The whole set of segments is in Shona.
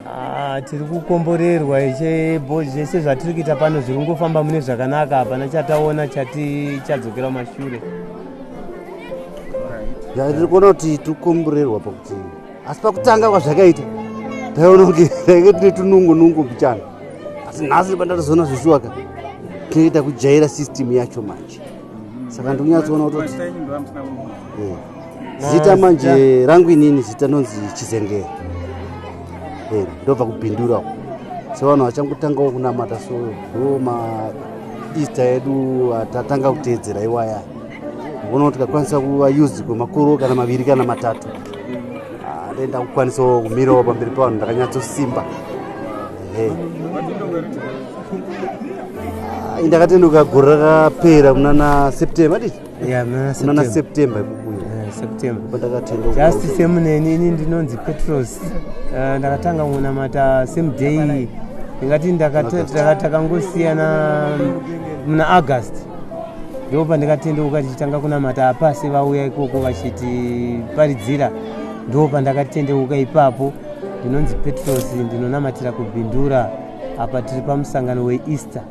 Ah, tiri kukomborerwa ishe bo zvese zvatiri kuita pano zviri kungofamba mune zvakanaka hapana chataona chati chadzokera mashure zvatiri kuona kuti tiri kukomborerwa pakuti asi pakutanga kwazvakaita taiona kuti tainge tine tunungu nungu mbichana asi nhasi pandatozoona zveshuwaka tinoita kujaira system yacho manje saka ndikunyatsoona kutoti eh, zita manje rangu inini zita nonzi chizengere eh, ndobva kubhindura so vanhu vachangotangawo kunamata so ndo maeaster edu atatanga kuteedzera iwaya vona kuti tikakwanisa kuva used kwemakuru kana maviri kana matatu ah, ndoenda kukwanisawo kumirawo pamberi pavanhu ndakanyatsosimba ndakatenduka gore rakapera munana september dii munana september ikukuyo pandakatendaujust same neni ini ndinonzi petros eh, ndakatanga kunamata same day ndingati takangosiyana muna august ndipo pandikatendeuka tichitanga kunamata apasi vauya ikoko vachitiparidzira ndipo pandakatendeuka ipapo ndinonzi petros ndinonamatira kubindura apa tiri pamusangano weeaster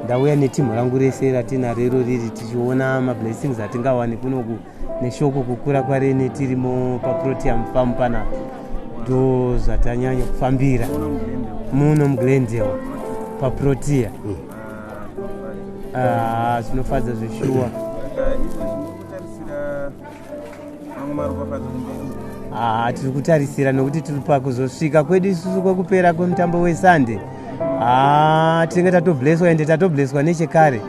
ndauya netimhu rangu rese ratinaro iro riri tichiona mablessings atingawani kunoku neshoko kukura kwarene tirimo paprotium farm panapa ndo zvatanyanya kufambira muno muglendale paprotia mm. ah, zvinofadza zveshuwa Ah, tiri kutarisira nokuti tiri pakuzosvika kwedu isusu kwekupera kwemutambo wesande ah, tinenge tatobleswa ende tatobleswa nechekare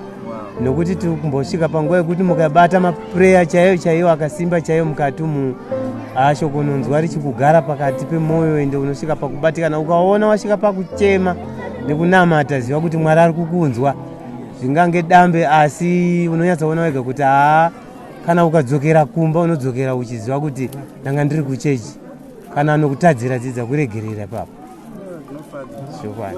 nokuti tiri kumbosvika panguva yekuti mukabata mapureya chaiyo chaiyo akasimba chaiyo mukati umu ah, shoko unonzwa richikugara pakati pemwoyo ende unosvika pakubatikana ukaona wasvika pakuchema nekunamata ziva kuti mwari ari kukunzwa zvingange dambe asi unonyatsoona wega kuti haa kana ukadzokera kumba unodzokera uchiziva kuti ndanga ndiri kuchechi kana anokutadzira dzidza kuregerera papo zvokwana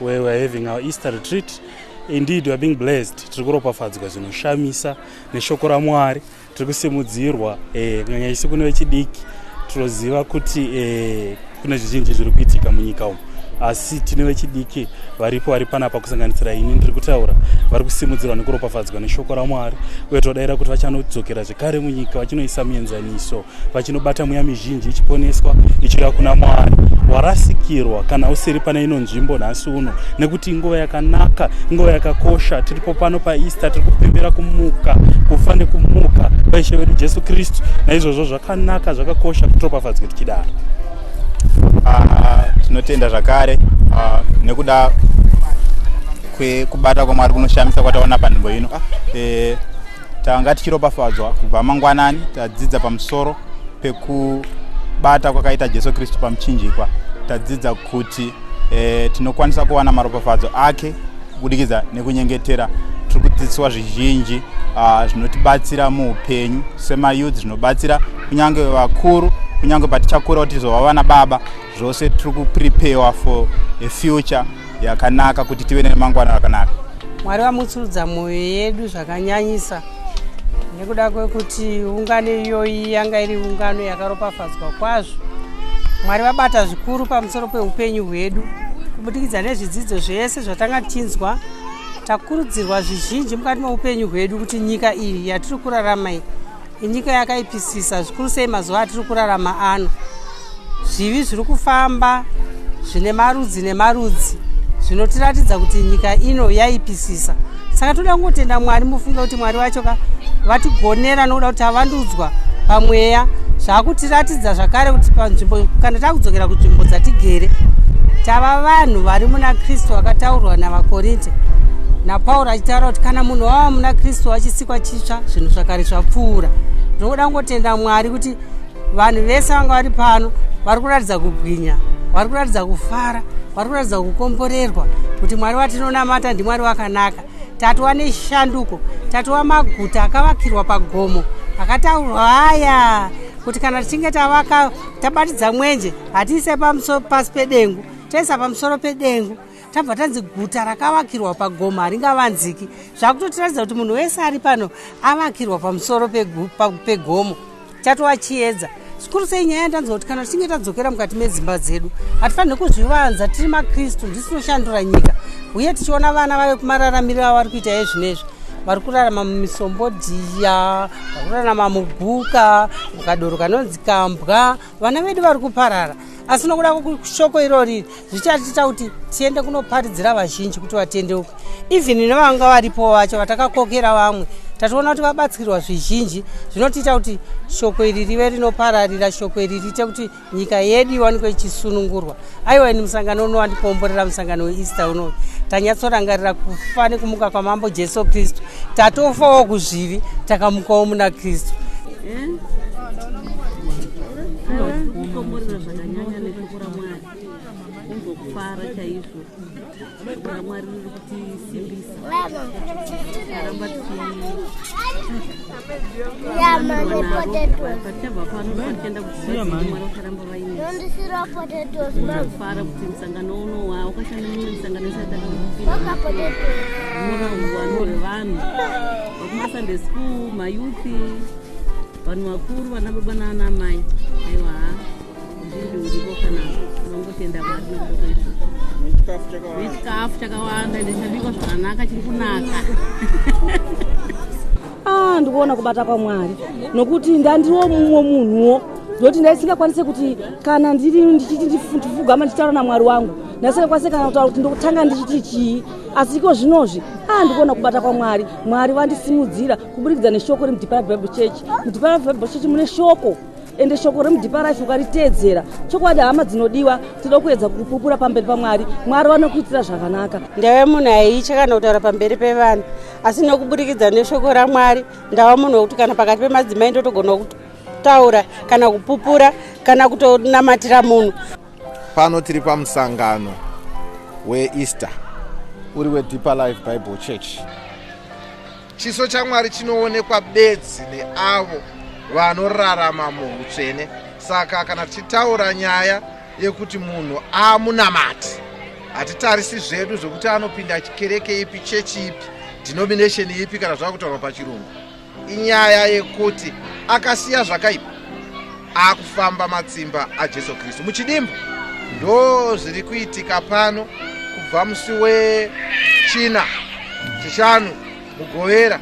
where we're having our easter retreat indeed we're being blessed tiri kuropafadzwa zvinoshamisa neshoko ramwari tiri kusimudzirwa eh, kunyanya isi kune vechidiki tinoziva kuti eh, kune zvizhinji zviri kuitika munyika umu asi tine vechidiki varipo vari panapa kusanganisira ini ndiri kutaura vari kusimudzirwa nekuropafadzwa neshoko ramwari uye todaira kuti vachanodzokera zvekare munyika vachinoisa mienzaniso vachinobata mweya mizhinji ichiponeswa ichiuya kuna mwari warasikirwa kana usiri pane ino nzvimbo nhasi uno nekuti inguva yakanaka inguva yakakosha tiripo pano paeaster tiri kupembera kumuka kufa nekumuka kwaishe vedu jesu kristu naizvozvo zvakanaka zvakakosha kutiropafadzwe tichidaro ah, tinotenda zvakare ah, nekuda kwekubata kwamwari kunoshamisa kwataona panzvimbo ino ah. eh, tanga tichiropafadzwa kubva mangwanani tadzidza pamusoro pekubata kwakaita jesu kristu pamuchinjikwa tadzidza kuti e, tinokwanisa kuwana maropafadzo ake kubudikidza nekunyengetera tiri kudzidziswa zvizhinji ah, zvinotibatsira uh, muupenyu semayouth zvinobatsira kunyange vakuru kunyange patichakura kuti tizova vana baba zvose tiri kupreparewa for a future yakanaka kuti tive nemangwana rakanaka mwari vamutsurudza mwoyo yedu zvakanyanyisa nekuda kwekuti ungano iyoyi yanga iri ungano yakaropafadzwa kwazvo mwari vabata zvikuru pamusoro peupenyu hwedu kubudikidza nezvidzidzo zvese zvatanga tinzwa takurudzirwa zvizhinji mukati meupenyu hwedu kuti nyika iyi yatiri kurarama iyi Inyika yakaipisisa zvikuru sei mazuva atiri kurarama ano. Zvivi zviri kufamba zvine marudzi nemarudzi zvinotiratidza kuti nyika ino yaipisisa. Saka toda kungotenda Mwari mufunge kuti Mwari wacho ka vatigonera nokuda kuti avandudzwa pamweya zvaakutiratidza zvakare kuti panzvimbo kana takudzokera kunzvimbo dzatigere tava vanhu vari muna kristu vakataurwa navakorinte napauro achitaura kuti kana munhu wava muna kristu wachisikwa titsva zvinhu zvakare zvapfuura ndokuda kungotenda mwari kuti vanhu vese vanga vari pano vari kuratidza kubwinya vari kuratidza kufara vari kuratidza kukomborerwa kuti mwari watinonamata ndimwari wakanaka tatova neshanduko tatova maguta akavakirwa pagomo akataurwa aya kuti kana tichinge tavaka tabatidza mwenje hatiise pasi pedengu toisa pamusoro pedengu tabva tanzi guta rakavakirwa pagomo haringavanziki zvakutotiratidza kuti munhu wese ari pano avakirwa pamusoro pegomo chatova chiedza zvikuru sei nyaya yandanzwa kuti kana tichinge tadzokera mukati medzimba dzedu hatifanire kuzvivanza tiri makristu ndisinoshandura nyika uye tichiona vana vave kumararamiro avari kuita yezvino izvi vari kurarama mumisombodhiya vari kurarama muguka mukadoro kanonzi kambwa vana vedu vari kuparara asi nokuda shoko irori zvichatiita kuti tiende kunoparidzira vazhinji kuti vatendeuke even nevanga varipo vacho vatakakokera vamwe tationa kuti vabatsirwa zvizhinji zvinotiita kuti shoko iri rive rinopararira shoko iri riite kuti nyika yedu iwanikwe ichisunungurwa aiwa ini musangano uno wandikomborera musangano weeaster unoyu tanyatsorangarira kufa nekumuka kwamambo jesu kristu tatofawo kuzvivi takamukawo muna kristu mm. kungokufara chaizvo kuna mwari riri kutisimbisa aramba tichiachabva pano vatienda kuzivaimwari vakaramba vainefara kuti musangano uno waukashanda mimwe misangano isataaurauwano rwevanhu vakumasande school mayuthi vanhu vakuru vana baba naana mai aiwa chikafu chakawanda ende chabikwa zvakanaka chiri kunaka ah, ndikuona kubata kwamwari nokuti ndandiwo mumwe munhuwo zvokuti ndaisingakwanise kuti kana ndiri ndichiti ndifugama ndichitaura namwari wangu ndaisingakwanise kana kutaura kuti ndokutanga ndichiti chii asi iko zvinozvi a ndikuona kubata kwamwari mwari vandisimudzira kuburikidza neshoko remudhipara bible church mudhipara bible church mune shoko ende shoko remudipa rife ukariteedzera chokwadi hama dzinodiwa tinoda kuedza kupupura pamberi pamwari mwari vanokuitira zvakanaka ndave munhu aiitya kana kutaura pamberi pevanhu asi nekuburikidza neshoko ramwari ndava munhu wekuti kana pakati pemadzimai ndotogona kutaura kana kupupura kana kutonamatira munhu pano tiri pamusangano weeaster uri wedeeper life bible church Chiso chaMwari chinoonekwa bedzi neavo vanorarama muutsvene. Saka kana tichitaura nyaya yekuti munhu amunamati, hatitarisi zvedu zvekuti anopinda chikereke ipi, chechi ipi, denomination ipi kana zvava kutaurwa pachirungu. Inyaya yekuti akasiya zvakaipa akufamba matsimba ajesu kristu muchidimbu ndo zviri kuitika pano kubva musi wechina chishanu mugovera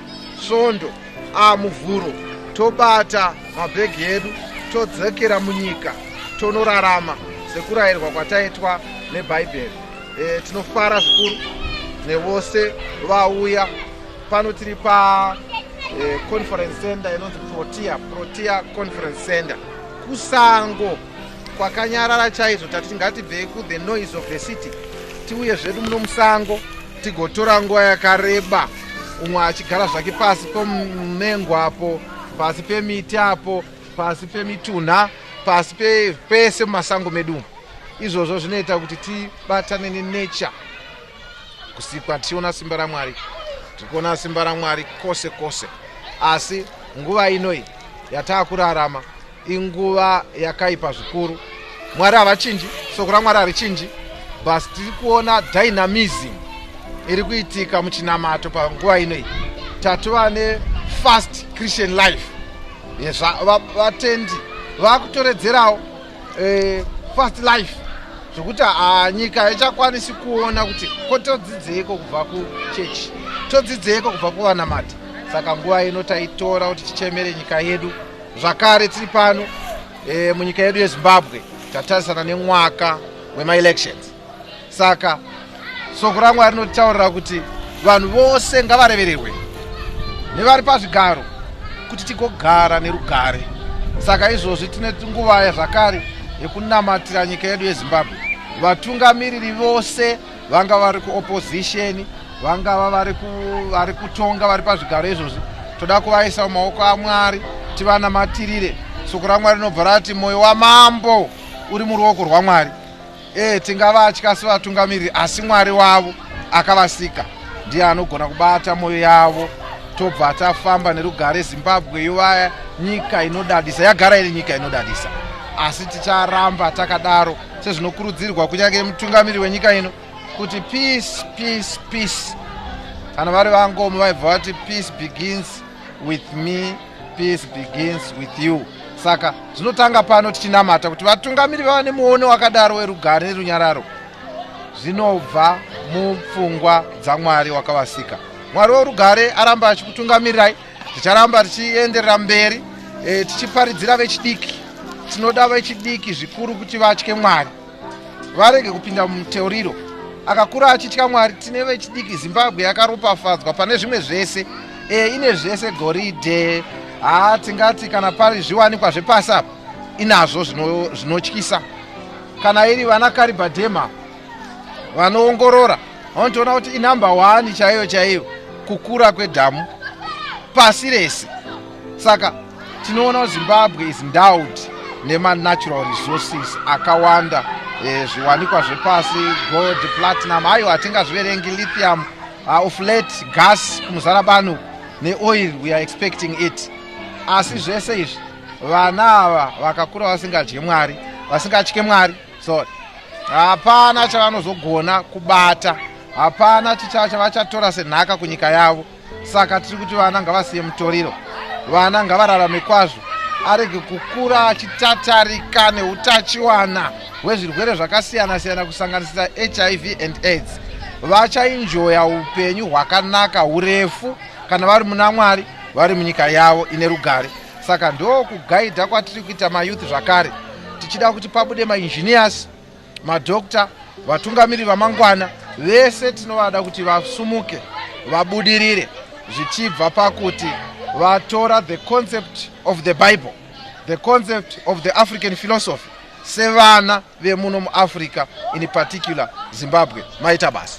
svondo amuvhuro tobata mabhegi edu todzokera munyika tonorarama sekurayirwa kwataitwa nebhaibheri e, tinofara zvikuru nevose vauya pano tiri pa eh, conference center inonzi protea protea conference center kusango kwakanyarara chaizvo tati ngatibvei kuthe noise of the city tiuye zvedu muno musango tigotora nguva yakareba umwe achigara zvake pasi pomumengo apo pasi pemiti apo pasi pemitunha pasi pese mumasango medu izvozvo zvinoita kuti tibatane nenature kusikwa tichiona simba ramwari tiri kuona simba ramwari kwose kwose asi nguva inoi yataa kurarama inguva yakaipa zvikuru mwari havachinji soko ramwari harichinji bus tiri kuona dynamism iri kuitika muchinamato panguva inoi tatova nefast christian life yezvavatendi vakutoredzerawo eh, fast life zvekuti ah, nyika haichakwanisi kuona kuti ko todzidzeiko kubva kuchechi todzidzeiko kubva kuvanamati saka nguva ino taitora kuti tichemere nyika yedu zvakare tiri pano e, munyika yedu yezimbabwe tatarisana nemwaka wemaelections saka soko ramwari rinotitaurira kuti vanhu vose ngavarevererwe nevari pazvigaro kuti tigogara nerugare saka izvozvi tine nguva yazvakare yekunamatira nyika yedu yezimbabwe vatungamiriri vose vanga vari kuopozisheni vangava vari kutonga vari pazvigaro izvozvi toda kuvaisa mumaoko amwari tivanamatirire soko ramwari rinobva rati mwoyo wamambo uri muruoko rwamwari E, tingavatya sevatungamiriri asi mwari wavo akavasika ndiye anogona kubata mwoyo yavo tobva tafamba nerugare zimbabwe yovaya nyika inodadisa yagara iri nyika inodadisa asi ticharamba takadaro sezvinokurudzirwa kunyange mutungamiri wenyika ino kuti peace peace peace kana vari vangomo vaibva vati peace begins with me peace begins with you saka zvinotanga pano tichinamata kuti vatungamiri vava nemuono wakadaro werugare nerunyararo zvinobva mupfungwa dzamwari wakavasika mwari worugare aramba achikutungamirirai ticharamba tichienderera mberi e, tichiparidzira vechidiki tinoda vechidiki zvikuru kuti vatye mwari varege kupinda muteuriro akakura achitya mwari tine vechidiki zimbabwe yakaropafadzwa pane zvimwe zvese e, ine zvese goridhe haa tingati kana pari zviwanikwa zvepasi apa inazvo zvinotyisa zvino kana iri vana karibadhema vanoongorora vanotoona kuti inumber one chaiyo chaiyo kukura kwedhamu pasi rese saka tinoona kuti zimbabwe is endowed nemanatural resources akawanda e, zviwanikwa zvepasi gold platinum ayo hatingazviverengi lithium uh, of late gas kumuzara bano neoil we are expecting it asi zvese izvi vana ava vakakura vasingadye mwari vasingatye mwari sorry hapana chavanozogona kubata hapana chichava chavachatora senhaka kunyika yavo saka tiri kuti vana ngavasiye mutoriro vana ngavararame kwazvo arege kukura achitatarika neutachiwana hwezvirwere zvakasiyana siyana kusanganisira hiv and aids vachainjoya upenyu hwakanaka urefu kana vari muna mwari vari munyika yavo ine rugare saka ndokugaidha kwatiri kuita mayouth zvakare tichida kuti pabude mainjiniyasi madokta vatungamiri vamangwana vese tinovada kuti vasumuke vabudirire zvichibva pakuti vatora the concept of the bible the concept of the african philosophy sevana vemuno muafrica in particular zimbabwe maita basa